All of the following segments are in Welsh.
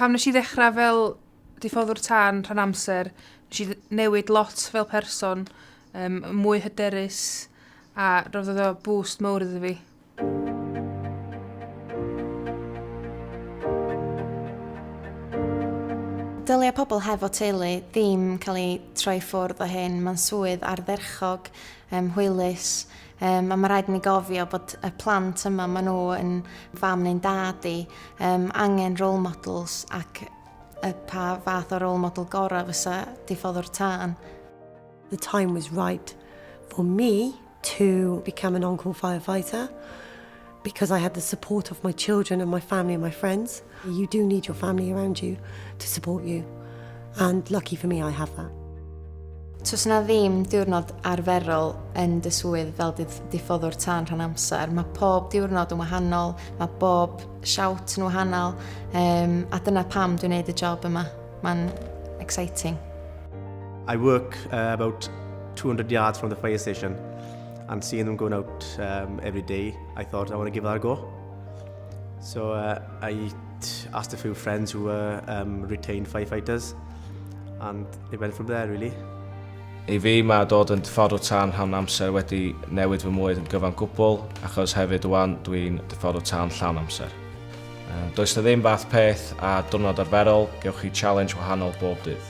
Pam wnes i ddechrau fel diffoddwr tân rhan amser, wnes i newid lot fel person, um, mwy hyderus, a roedd oedd o boost mawr iddo fi. Dylia pobl hefo teulu ddim cael ei troi ffwrdd o hyn. Mae'n swydd ardderchog, um, hwylus, Um, a mae rhaid i ni gofio bod y plant yma, maen nhw yn fam neu'n dad i, um, angen role models ac y pa fath o role model gorau fysa diffodd o'r tân. The time was right for me to become an on-call firefighter. because I had the support of my children and my family and my friends. You do need your family around you to support you. And lucky for me, I have that. Tos na ddim diwrnod arferol yn dy swydd fel diffoddwr tân rhan amser. Mae pob diwrnod yn wahanol, mae bob siawt yn wahanol, um, a dyna pam dwi'n gwneud y job yma. Mae'n exciting. I work uh, about 200 yards from the fire station. and seeing them going out um, every day, I thought I want to give that a go. So uh, I asked a few friends who were um, retained firefighters, and it went from there really. I fi mae dod yn dyffordd o tân llawn amser wedi newid fy mwyd yn gyfan gwbl, achos hefyd wan dwi'n dyffordd o tân llawn amser. Um, does na ddim fath peth a diwrnod arferol, gewch chi challenge wahanol bob dydd.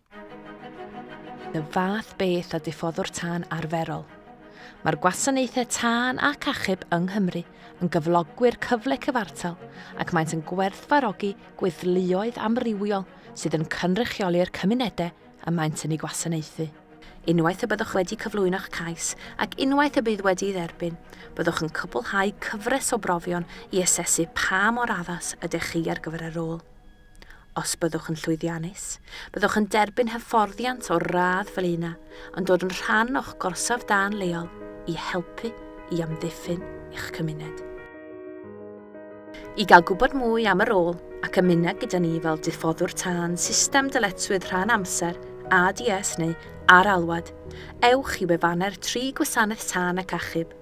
Y fath beth a diffoddwr tân arferol. Mae'r gwasanaethau tân ac achub yng Nghymru yn gyflogwyr cyfle cyfartal ac maent yn gwerthfarogi gweithluoedd amrywiol sydd yn cynrychioli'r cymunedau y maent yn ei gwasanaethu. Unwaith y byddwch wedi cyflwyno'ch cais ac unwaith y bydd wedi ei dderbyn, byddwch yn cwblhau cyfres o brofion i asesu pa mor addas ydych chi ar gyfer y rôl. Os byddwch yn llwyddiannus, byddwch yn derbyn hyfforddiant o'r radd fel un a yn dod yn rhan o'ch gorsaf dân leol i helpu i amddiffyn eich cymuned. I gael gwybod mwy am y rôl ac ymuno gyda ni fel diffoddwr tân system dyletswydd rhan amser, ADS neu ar alwad, ewch i wefannau'r tri gwasanaeth tân ac achub.